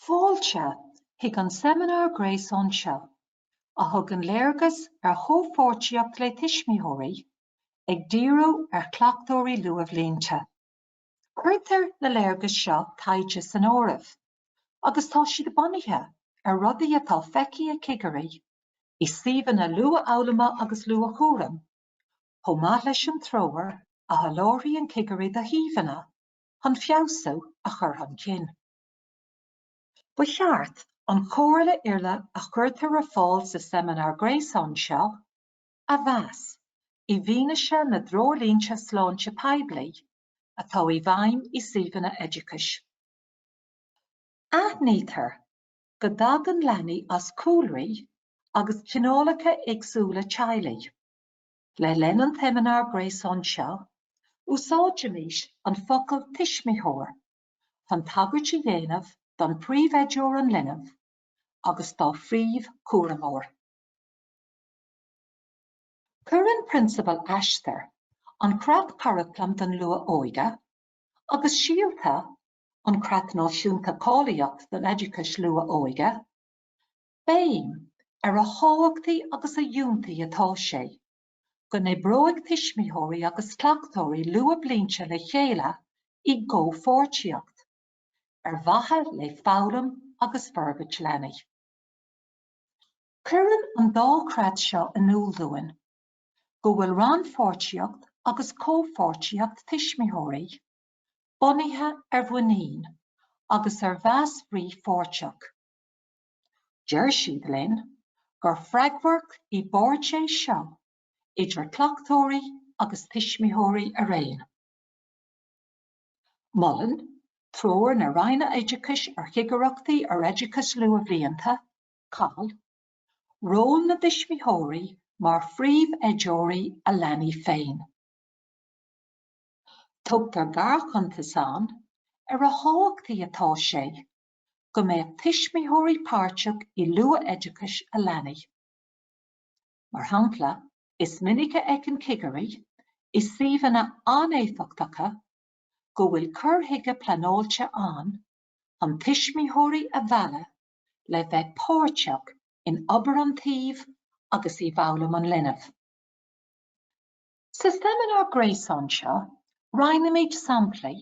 Fáilte chuig an seimineár gréasáin seo, a thugann léargas ar chomhpháirtíocht le tuismitheoirí, ag díriú ar chleachtóirí luathbhlianta. Cuirtear na léargais seo taighde san áireamh agus tá siad bunaithe ar rudaí atá feicthe ag cigirí i suíomhanna luathfhoghlama agus luathchúraim, chomh maith leis an treoir a sholáthraíonn cigirí do shuíomhanna chun feabhsú a chur chun cinn. Ba cheart an chomhairle uile a chuirtear ar fáil sa seimineár gréasáin seo a mheas i bhfianaise na dtreoirlínte sláinte poiblí atá i bhfeidhm i suíomhanna oideachais. Aithnítear go dtagann leanaí as cúlraí agus cineálacha éagsúla teaghlaigh. Le linn an tseimineáir gréasáin seo, úsáidfimid an focal 'tuismitheoir' chun tagairt a dhéanamh don phríomhoideoir an linbh agus dá phríomhchúramóir. Cuireann Prionsabal Aistear, an Creat Curaclaim don Luath-Óige, agus Síolta, an Creat Náisiúnta Cáilíochta don Oideachais Luath-Óige, béim ar a thábhachtaí agus a fhiúntaí atá sé go n-oibreoidh tuismitheoirí agus cleachtóirí luathbhlianta le chéile i gcomhpháirtíocht ar mhaithe le foghlaim agus forbairt leanaí. Cuireann an dá chreat seo in iúl dúinn go bhfuil rannpháirtíocht agus comhpháirtíocht tuismitheoirí bunaithe ar mhuinín agus ar mheas frithpháirteach. Deir siad linn gur freagracht i bpáirt é seo idir cleachtóirí agus tuismitheoirí araon. Molann Treoir na Roinne Oideachais ar Chigireachtaí ar Oideachas Luathbhlianta COL, ról na dtuismitheoirí mar phríomh-oideoirí a leanaí féin. Tugtar gearrchuntas ann ar a thábhachtaí atá sé go mbeadh tuismitheoirí páirteach i luath-oideachais a leanaí. Mar shampla, is minic a fheiceann cigirí i suíomhanna an-éifeachtacha go bhfuil cur chuige pleanáilte ann chun tuismitheoirí a mhealladh le bheith páirteach in obair an tsuímh agus i bhfoghlaim an linbh. Sa seimineár gréasáin seo, roinnfimid samplaí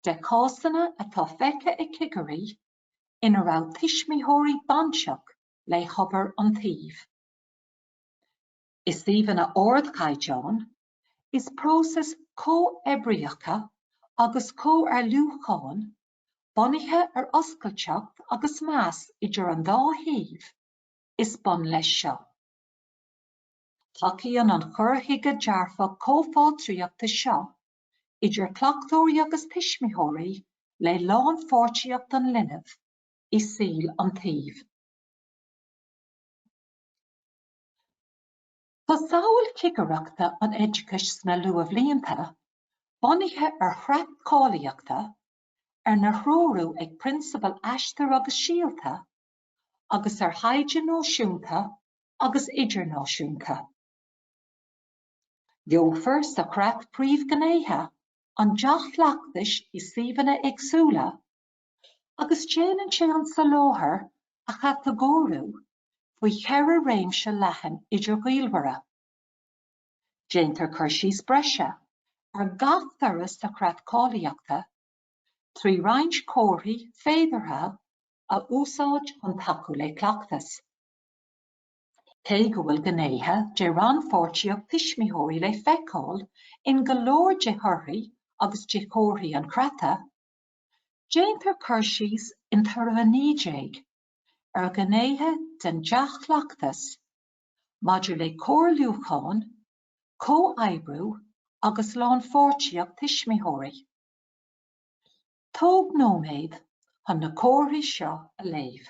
de chásanna atá feicthe ag cigirí ina raibh tuismitheoirí bainteach le hobair an tsuímh. I suíomhanna ardchaighdeáin, is próisis chomhoibríocha agus chomhairliúcháin bunaithe ar oscailteacht agus meas idir an dá thaobh, is bun leis seo. Tacaíonn an cur chuige dearfach comhpháirtíochta seo idir cleachtóirí agus tuismitheoirí le lánpháirtíocht an linbh i saol an tsuímh. Tá samhail chigireachta an oideachais sna luathbhlianta bunaithe ar chreat cáilíochta, arna threorú ag prionsabail Aistear agus Síolta, agus ar thaighde náisiúnta agus idirnáisiúnta. Gheofar sa chreat príomhghnéithe an dea-chleachtais i suíomhanna éagsúla Agus déanann sé an soláthar a chatagóiriú faoi cheithre réimse leathan idirghaolmhara. Déantar cur síos breise ar gach toradh sa Chreat Cáilíochta trí roinnt comharthaí féideartha a úsáid chun tacú le cleachtas. Cé go bhfuil gnéithe de rannpháirtíocht tuismitheoirí le feiceáil in go leor de thorthaí agus de chomharthaí an Chreata, Déantar cur síos in Toradh 19 ar ghnéithe den dea-chleachtas maidir le comhairliúchán, comhoibriú agus lánpháirtíocht tuismitheoirí. Tóg nóiméad chun na comharthaí seo a léamh.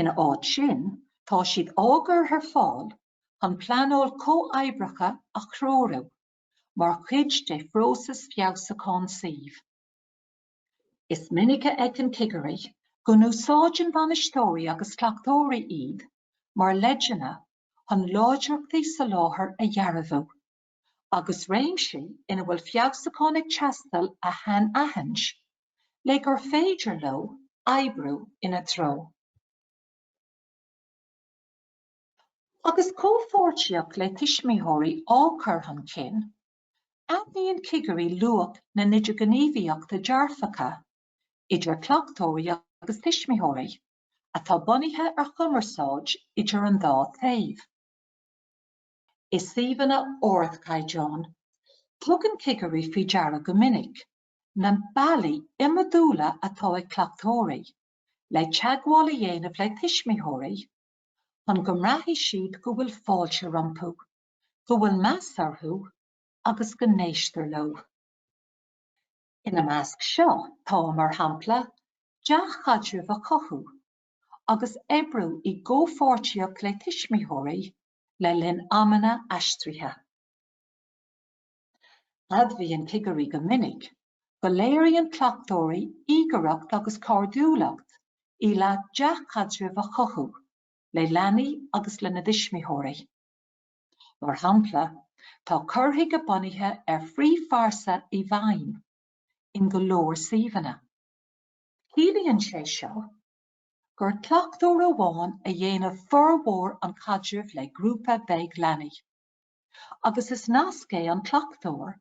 Ina áit sin, tá siad á gcur ar fáil chun pleanáil chomhoibríoch a threorú mar chuid de phróiseas feabhsúcháin suímh. Is minic a fheiceann cigirí go n-úsáideann bainisteoirí agus cleachtóirí iad mar leideanna chun láidreachtaí soláthair a dhearbhú. agus réimsí ina bhfuil feabhsúchán ag teastáil a shainaithint le gur féidir leo oibriú ina dtreo. Agus comhpháirtíocht le tuismitheoirí á cur chun cinn, aithníonn cigirí luach na n-idirghníomhaíochtaí dearfacha idir cleachtóirí agus tuismitheoirí, atá bunaithe ar chumarsáid idir an dá taobh. i suíomhanna ardchaighdeáin. Tugann cigirí faoi deara go minic na bealaí iomadúla atá ag cleachtóirí le teagmháil a dhéanamh le tuismitheoirí chun go mbraithfidh siad go bhfuil fáilte rompu, go bhfuil meas orthu agus go n-éistear leo. Ina measc seo tá, mar shampla, dea-chaidreamh a chothú agus oibriú i gcomhpháirtíocht le tuismitheoirí le linn amanna aistrithe. Admhaíonn cigirí go minic go léiríonn cleachtóirí íogaireacht agus cairdiúlacht i leith dea-chaidreamh a chothú le leanaí agus lena dtuismitheoirí. Mar shampla, tá cur chuige bunaithe ar phríomhphearsa i bhfeidhm in go leor suíomhanna. Ciallaíonn sé seo gur cleachtóir amháin a dhéanann formhór an chaidrimh le grúpa beag leanaí. Agus is nasc é an cleachtóir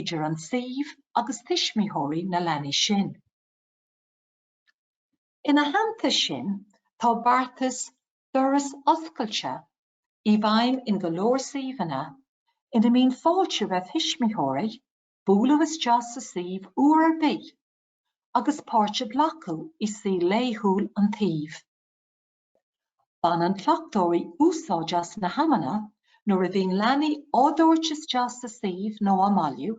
idir an suíomh agus tuismitheoirí na leanaí sin. Ina theannta sin, tá beartas 'doras oscailte' i bhfeidhm in go leor suíomhanna ina mbíonn fáilte roimh thuismitheoirí bualadh isteach sa suíomh uair ar bith agus páirt a ghlacadh i saol laethúil an tsuímh. Baineann cleachtóirí úsáid as na hamanna nuair a bhíonn leanaí á dtabhairt isteach sa suíomh nó á mbailiú,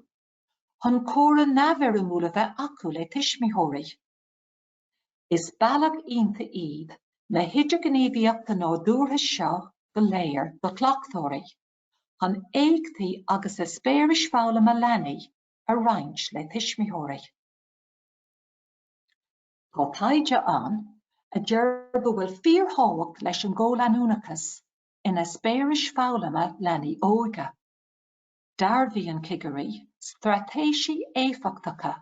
chun comhrá neamhfhoirmiúil a bheith acu le tuismitheoirí. Is bealach iontach iad na hidirghníomhaíochta nádúrtha seo go léir do chleachtóirí chun éachtaí agus eispéiris foghlama leanaí a roinnt le tuismitheoirí. Tá taighde ann a deir go bhfuil fíorthábhacht leis an gcomhleanúnachas in eispéiris foghlama leanaí óga. Dearbhaíonn cigirí straitéisí éifeachtacha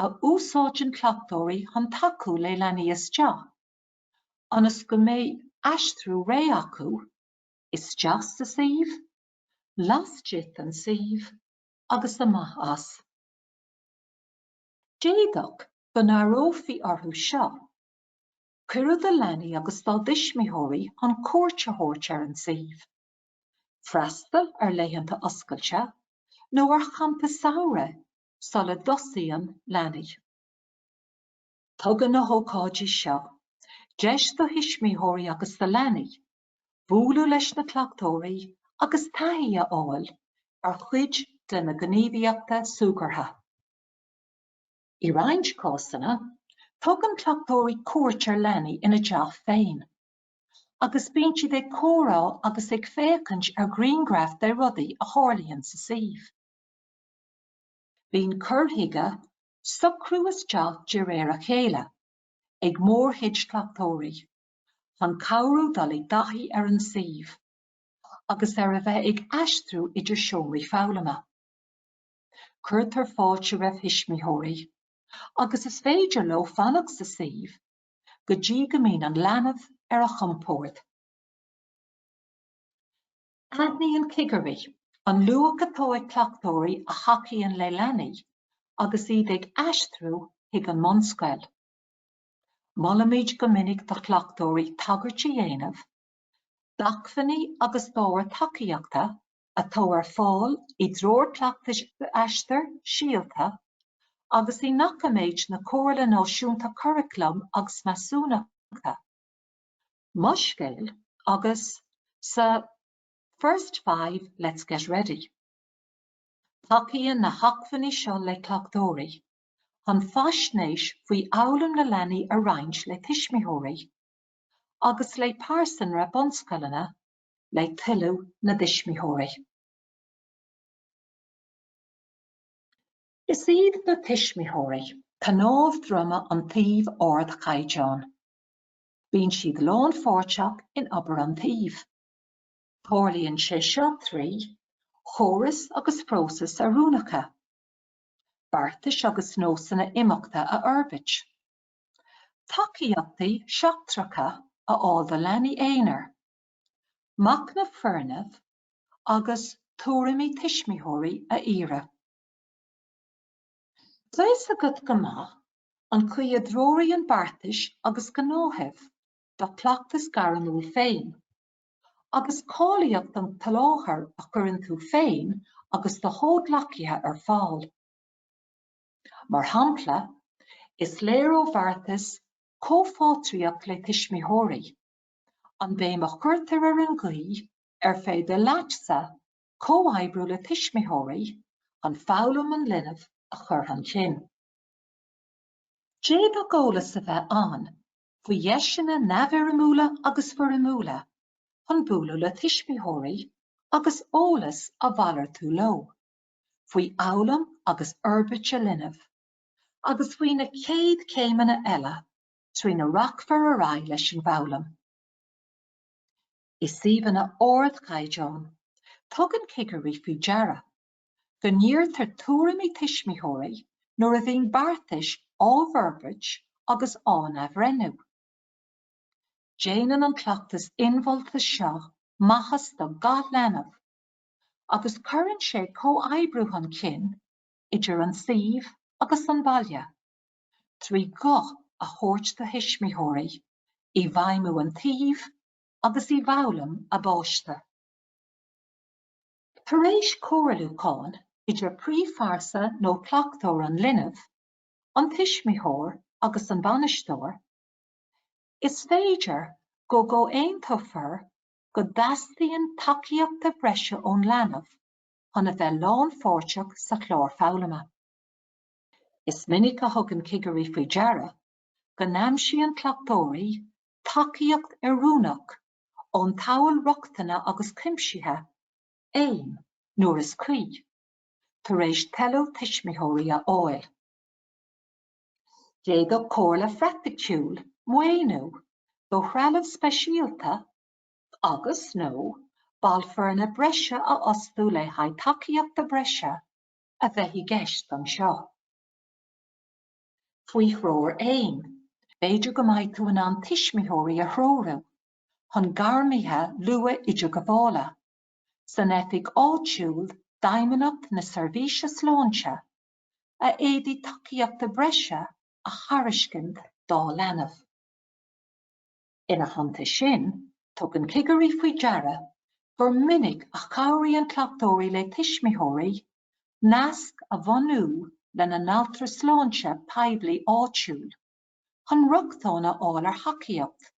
a úsáideann cleachtóirí chun tacú le leanaí isteach ionas go mbeidh aistriú réidh acu isteach sa suíomh, laistigh den suíomh, agus amach as. D'fhéadfadh go n-áireofaí orthu seo. Cuireadh do leanaí agus dá dtuismitheoirí chun cuairt a thabhairt ar an suíomh, freastal ar laethanta oscailte nó ar champa samhraidh sula dtosaíonn leanaí. Tugann na hócáidí seo deis do thuismitheoirí agus do leanaí bualadh leis na cleachtóirí agus taithí a fháil ar chuid de na gníomhaíochta súgartha. I roinnt cásanna, tugann cleachtóirí cuairt ar leanaí ina dteach féin agus bíonn siad ag comhrá agus ag féachaint ar ghrianghraif de rudaí a tharlaíonn sa suíomh. Bíonn cur chuige socrú isteach de réir a chéile ag mórchuid cleachtóirí. chun cabhrú dul i dtaithí ar an suíomh agus ar a bheith ag aistriú idir seomraí foghlama. Cuirtear fáilte roimh thuismitheoirí agus is féidir leo fanacht sa suíomh go dtí go mbíonn an leanbh ar a chompord. Aithníonn cigirí an luach atá ag cleachtóirí a thacaíonn le leanaí agus iad ag aistriú chuig an mbunscoil. Molaimid go minic do chleachtóirí tagairt a dhéanamh d'acmhainní agus d'ábhair tacaíochta atá ar fáil i dTreoir Cleachtais Aistear Síolta agus i ndoiciméid na Comhairle Náisiúnta Curaclaim agus Measúnachta, Mo Scéal agus sa First Five Let's Get Ready. Tacaíonn na hacmhainní seo le cleachtóirí. chun faisnéis faoi fhoghlaim na leanaí a roinnt le tuismitheoirí agus le pearsanra bunscoileanna le toiliú na dtuismitheoirí. Is iad na tuismitheoirí cnámh droma an tsuímh ardchaighdeáin. Bíonn siad lánpháirteach in obair an tsuímh. Tarlaíonn sé seo trí chórais agus phróisis oiriúnacha. beartais agus nósanna imeachta a fhorbairt, tacaíochtaí seachtracha a fháil do leanaí aonair, machnamh foirne agus tuairimí tuismitheoirí a iarraidh. Beidh a fhios agat go maith an chaoi a dtreoraíonn beartais agus gnáthaimh do chleachtas gairmiúil féin. agus cáilíocht an tsoláthair a chuireann tú féin agus do chomhghleacaithe ar fáil. Mar shampla, is léir ó bheartas Comhpháirtíocht le Tuismitheoirí, an bhéim a chuirtear ar an gcaoi ar féidir leatsa comhoibriú le tuismitheoirí chun foghlaim an linbh a chur chun cinn. D'fhéadfadh eolas a bheith ann faoi dheiseanna neamhfhoirmiúla agus foirmiúla chun bualadh le tuismitheoirí agus eolas a mhalartú leo faoi fhoghlaim agus fhorbairt a linbh, agus faoi na chéad chéimeanna eile trína rachfar ar aghaidh leis an bhfoghlaim. I suíomhanna ardchaighdeáin, tugann cigirí faoi deara go n-iarrtar tuairimí tuismitheoirí nuair a bhíonn beartais á bhforbairt agus á n-athbhreithniú. Déanann an cleachtas inmholta seo maitheas do gach leanbh agus cuireann sé comhoibriú chun cinn idir an suíomh agus an baile trí ghuth a thabhairt do thuismitheoirí i bhfeidhmiú an tsuímh agus i bhfoghlaim a bpáiste. Tar éis comhairliúcháin idir príomhphearsa nó cleachtóir an linbh, an tuismitheoir agus an bainisteoir, is féidir go gcomhaontófar go dteastaíonn tacaíochta breise ón leanbh chun a bheith lánpháirteach sa chlár foghlama. Is minic a thugann cigirí faoi deara go n-aimsíonn cleachtóirí tacaíocht oiriúnach ón tSamhail Rochtana agus Cuimsithe, aim, nuair is cuí, tar éis toiliú tuismitheoirí a fháil. D'fhéadfadh comhairle phraiticiúil, maoiniú do threalamh speisialta agus, nó ball foirne breise a fhostú le haghaidh tacaíochta breise a bheith i gceist anseo. Faoi threoir Aim, b'fhéidir go mbeidh tú in ann tuismitheoirí a threorú chun gairmithe luath-idirghabhála, san oifig áitiúil d'Fheidhmeannacht na Seirbhíse Sláinte, a fhéadfadh tacaíochta breise a thairiscint dá leanbh. Ina theannta sin, tugann cigirí faoi deara gur minic a chabhraíonn cleachtóirí le tuismitheoirí naisc a bhunú lena n-altra sláinte poiblí áitiúil chun rochtain a fháil ar thacaíocht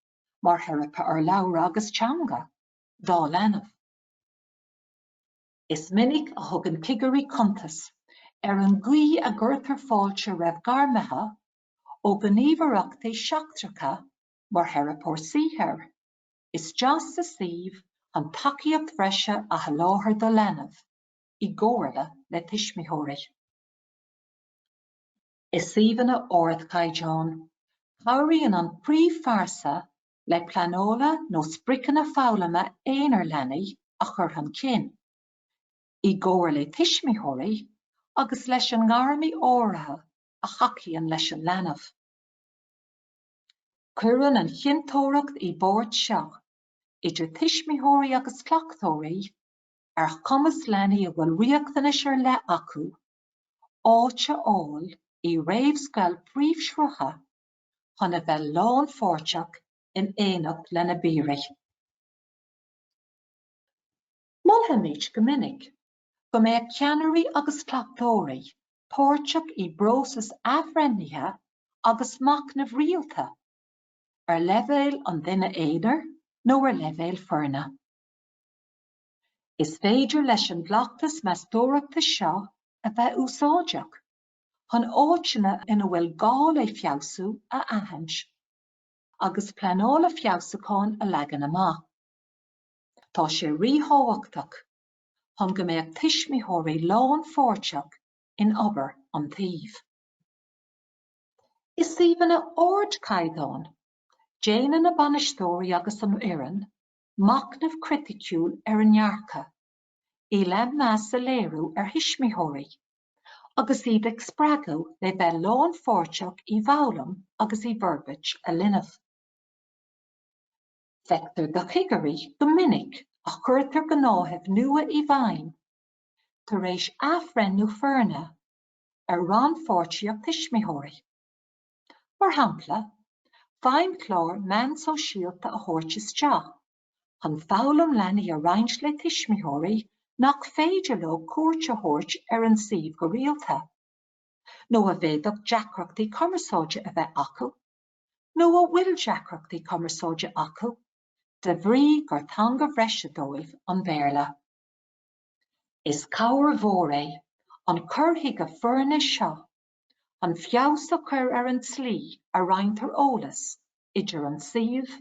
mar theiripe urlabhra agus teanga dá leanbh. Is minic a thugann cigirí cuntas ar an gcaoi a gcuirtear fáilte roimh gairmithe ó ghníomhaireachtaí seachtracha mar Theiripeoir Saothair isteach sa suíomh chun tacaíocht bhreise a sholáthar do leanbh, i gcomhairle le tuismitheoirí. I suíomhanna ardchaighdeáin, cabhraíonn an príomhphearsa le pleanála nó spriocanna foghlama aonair leanaí a chur chun cinn, i gcomhar le tuismitheoirí agus leis an ngairmí áirithe a thacaíonn leis an leanbh. Cuireann an chinnteoireacht i bpáirt seo idir tuismitheoirí agus cleachtóirí ar chumas leanaí a bhfuil riachtanais ar leith acu áit a fháil i réamhscoil príomhshrutha chun a bheith lánpháirteach in éineacht lena bpiaraí. Molaimid go minic go mbeadh ceannairí agus cleachtóirí páirteach i bpróisis athbhreithnithe agus machnaimh rialta, ar leibhéal an duine aonair nó ar leibhéal foirne. Is féidir leis an gcleachtas meastóireachta seo a bheith úsáideach chun áiteanna ina bhfuil gá le feabhsú a aithint, agus pleananna feabhsúcháin a leagan amach. Tá sé ríthábhachtach. chun go mbeadh tuismitheoirí lánpháirteach in obair an tsuímh. I suíomhanna ardchaighdeáin, déanann na bainisteoirí agus an fhoireann machnamh criticiúil ar a ndearcadh i leith meas a léiriú ar thuismitheoirí, agus iad a spreagadh le bheith lánpháirteach i bhfoghlaim agus i bhforbairt a linbh. Feictear do chigirí gur minic a chuirtear gnáthaimh nua i bhfeidhm tar éis athbhreithniú foirne ar rannpháirtíocht tuismitheoirí, mar shampla feidhmchlár meán sóisialta a thabhairt isteach chun foghlaim leanaí a roinnt le tuismitheoirí nach féidir leo cuairt a thabhairt ar an suíomh go rialta, nó a bhféadfadh deacrachtaí cumarsáide a bheith acu. nó a bhfuil deacrachtaí cumarsáide acu de bhrí gur teanga bhreise dóibh an Béarla. Is cabhair mhór é an cur chuige foirne seo chun feabhas a chur ar an tslí a roinntear eolas idir an suíomh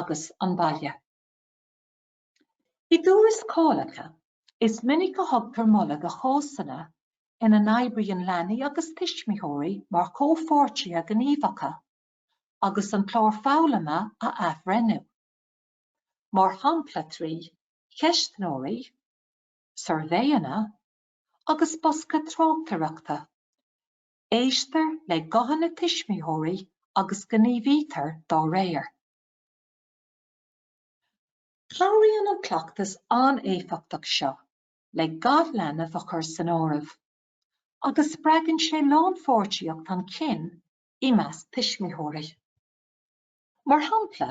agus an baile. I dtuarascálacha, is minic a thugtar moladh do chásanna ina n-oibríonn leanaí agus tuismitheoirí mar chomhpháirtithe gníomhacha agus an clár foghlama á athbhreithniú, mar shampla trí cheistneoirí, suirbhéanna agus bosca tráchtaireachta. Éistear le guthanna tuismitheoirí agus gníomhaítear dá réir. Cabhraíonn an cleachtas an-éifeachtach seo le gach leanbh a chur san áireamh agus spreagann sé rannpháirtíocht chun cinn i measc tuismitheoirí. Mar shampla,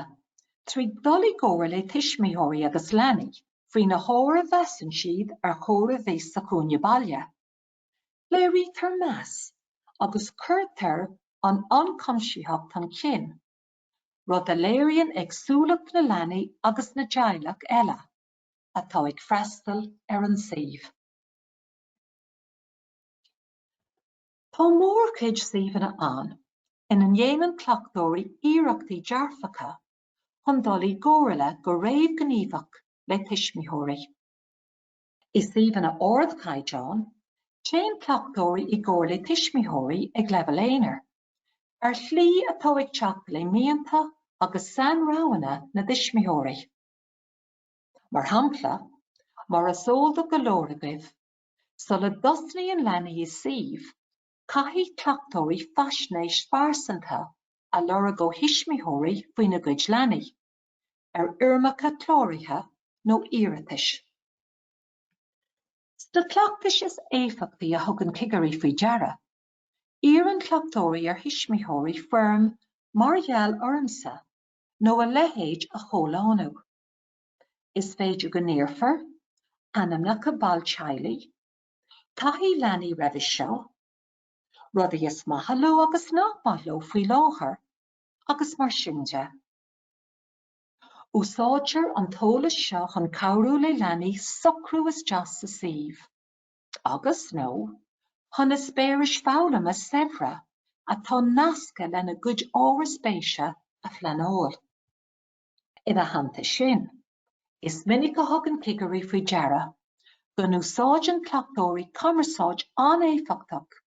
trí dhul i gcomhairle le tuismitheoirí agus leanaí faoi na hábhair a mheasann siad ar chóir a bheith sa chúinne baile, léirítear meas agus cuirtear an ionchuimsitheacht chun cinn. rud a léiríonn éagsúlacht na leanaí agus na dteaghlach uile atá ag freastal ar an suíomh. Tá mórchuid suíomhanna ann ina ndéanann cleachtóirí iarrachtaí dearfacha chun dul i gcomhairle go réamhghníomhach le tuismitheoirí. I suíomhanna ardchaighdeáin, téann cleachtóirí i gcomhairle le tuismitheoirí ag leibhéal aonair, ar shlí atá ag teacht le mianta agus sainroghanna na dtuismitheoirí. Mar shampla, mar is eol do go leor agaibh, sula dtosnaíonn leanaí i suíomh, caithfidh cleachtóirí faisnéis phearsanta a lorg ó thuismitheoirí faoina gcuid leanaí. ar fhoirmeacha cláraithe nó iarratais. Sna cleachtais is éifeachtaí a thugann cigirí faoi deara, iarrann cleachtóirí ar thuismitheoirí foirm 'Mar gheall ormsa' nó a leithéid a chomhlánú. Is féidir go n-iarrfar ainmneacha ball teaghlaigh, taithí leanaí roimhe seo, rudaí is maith leo agus nach maith leo faoi láthair, agus mar sin de. Úsáidtear an t-eolas seo chun cabhrú le leanaí socrú isteach sa suíomh agus, nó chun eispéiris foghlama saibhre atá nasctha lena gcuid ábhar spéise a phleanáil. Ina theannta sin, is minic a thugann cigirí faoi deara go n-úsáideann cleachtóirí cumarsáid an-éifeachtach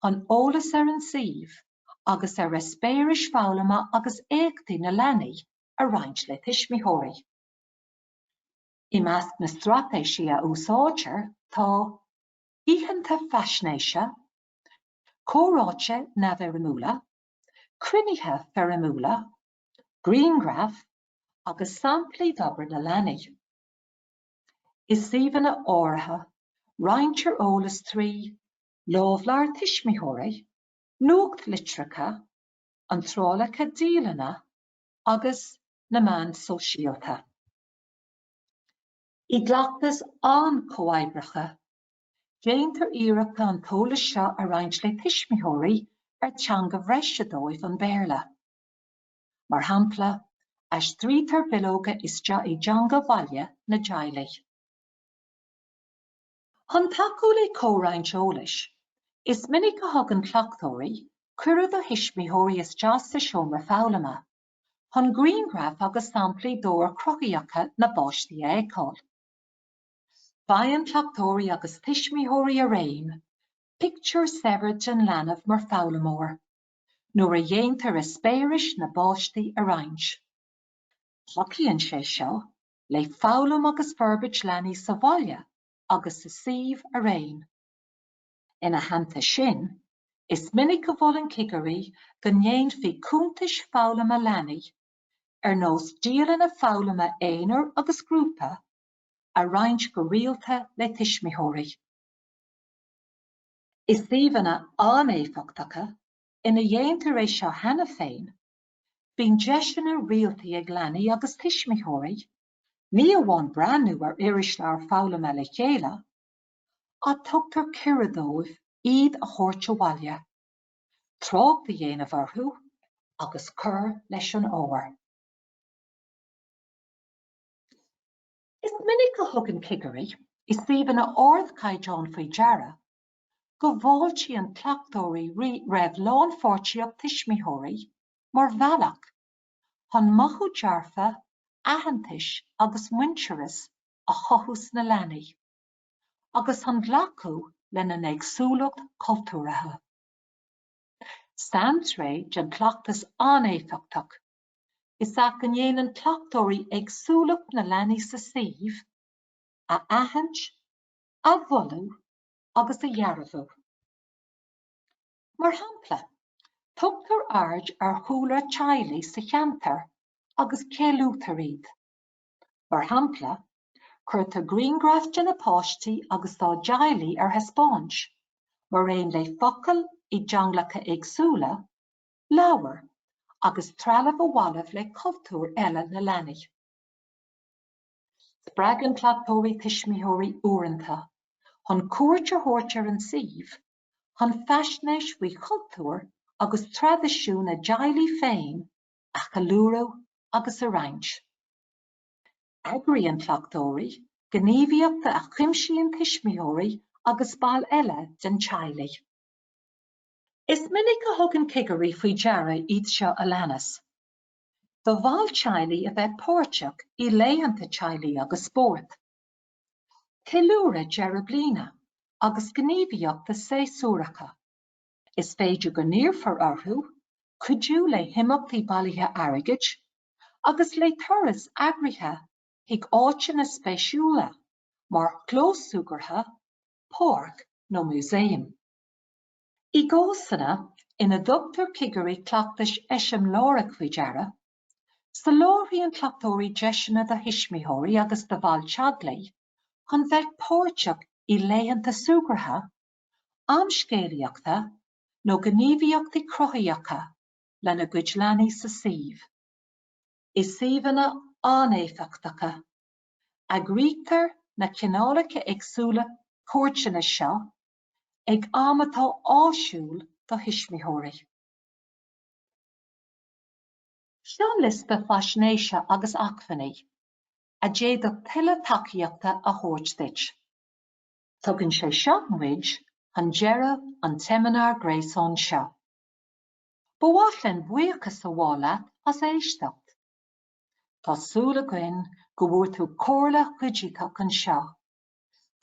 chun eolas ar an suíomh agus ar eispéiris foghlama agus éachtaí na leanaí a roinnt le tuismitheoirí. I measc na straitéisí a úsáidtear tá, oícheanta faisnéise, comhráite neamhfhoirmiúla, cruinnithe foirmiúla, grianghraif agus samplaí d'obair na leanaí. I suíomhanna áirithe roinntear eolas trí Lámhleabhar Tuismitheoirí, Nuachtlitreacha, Iontrálacha Dialainne agus na Meáin Sóisialta. I gcleachtas an-chomhoibríoch, déantar iarracht an t-eolas seo a roinnt le tuismitheoirí ar teanga bhreise dóibh an Béarla. Mar shampla, aistrítear bileoga isteach i dteanga bhaile na dteaghlaigh. Chun tacú le comhroinnt eolais, is minic a thugann cleachtóirí cuireadh do thuismitheoirí isteach sa seomra foghlama chun grianghraif agus samplaí d'obair chruthaitheacha na bpáistí a fheiceáil. Faigheann cleachtóirí agus tuismitheoirí araon pictiúr saibhir den leanbh mar foghlaimeoir nuair a dhéantar eispéiris na bpáistí a roinnt. Tacaíonn sé seo le foghlaim agus forbairt leanaí sa bhaile agus sa suíomh araon. Ina theannta sin, is minic a mholann cigirí go ndéanfaí cuntais foghlama leanaí, ar nós dialanna foghlama aonair agus grúpa, a roinnt go rialta le tuismitheoirí. I suíomhanna an-éifeachtacha ina dhéantar é seo cheana féin Bíonn deiseanna rialta ag leanaí agus tuismitheoirí, ní amháin breathnú ar irisleabhair foghlama le chéile, ach tugtar cuireadh dóibh iad a thabhairt abhaile, trácht a dhéanamh orthu agus cur leis an ábhar. Is minic a thugann cigirí i suíomhanna ardchaighdeáin faoi deara go bhfáiltíonn cleachtóirí roimh lánpháirtíocht tuismitheoirí mar bhealach chun mothú dearfa, aitheantais agus muintearais a chothú sna leanaí, agus chun glacadh lena n-éagsúlacht chultúrtha. Saintréith den chleachtas an-éifeachtach is ea go ndéanann cleachtóirí éagsúlacht na leanaí sa suíomh a aithint, a mholadh, agus a dhearbhú. Mar shampla, tugtar aird ar chúlra teaghlaigh sa cheantar agus ceiliútar iad. Mar shampla, cuirtear grianghraif de na páistí agus dá dteaghlaigh ar thaispeáint, mar aon le focail i dteangacha éagsúla, leabhair, agus trealamh a bhaineann le cultúir eile na leanaí. Spreagann cleachtóirí tuismitheoirí uaireanta chun cuairt a thabhairt ar an suíomh chun faisnéis faoi chultúr agus traidisiún a dteaghlaigh féin a cheiliúradh agus a roinnt. Eagraíonn cleachtóirí gníomhaíochta a chuimsíonn tuismitheoirí agus baill eile den teaghlaigh. Is minic a thugann cigirí faoi deara iad seo a leanas. do bhaill teaghlaigh a bheith páirteach i laethanta teaghlaigh agus spóirt, ceiliúradh deireadh bliana agus gníomhaíochta séasúracha. Is féidir go n-iarrfar orthu cuidiú le himeachtaí bailithe airgid agus le turais eagraithe chuig áiteanna spéisiúla mar chlós súgartha, páirc nó músaem. I gcásanna ina dtugtar cigirí cleachtais eiseamláireach faoi deara, soláthraíonn cleachtóirí deiseanna do thuismitheoirí agus do bhaill teaghlaigh chun bheith páirteach i laethanta súgartha, am scéalaíochta nó gníomhaíochtaí cruthaitheacha lena gcuid leanaí sa suíomh. I suíomhanna an-éifeachtacha, eagraítear na cineálacha éagsúla cuairteanna seo ag am atá áisiúil do thuismitheoirí. Seo liosta faisnéise agus acmhainní a d'fhéadfadh tuilleadh tacaíochta a thabhairt duit. Tugann sé seo muid chun deireadh an tseimineár gréasáin seo. Ba mhaith linn buíochas a ghabháil leat as éisteacht. Tá súil againn go bhfuair tú comhairle chuiditheach anseo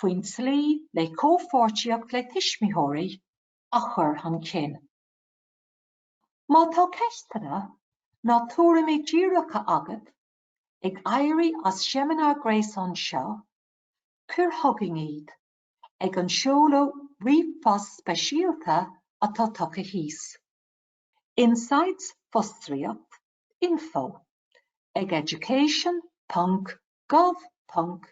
faoin tslí le comhpháirtíocht le tuismitheoirí a chur chun cinn. Má tá ceisteanna ná tuairimí díreacha agat ag éirí as seimineár gréasáin seo, cuir chugainn iad ag an seoladh ríomhphost speisialta atá tugtha thíos. Insights fostríoc info ag education ponc gov ponc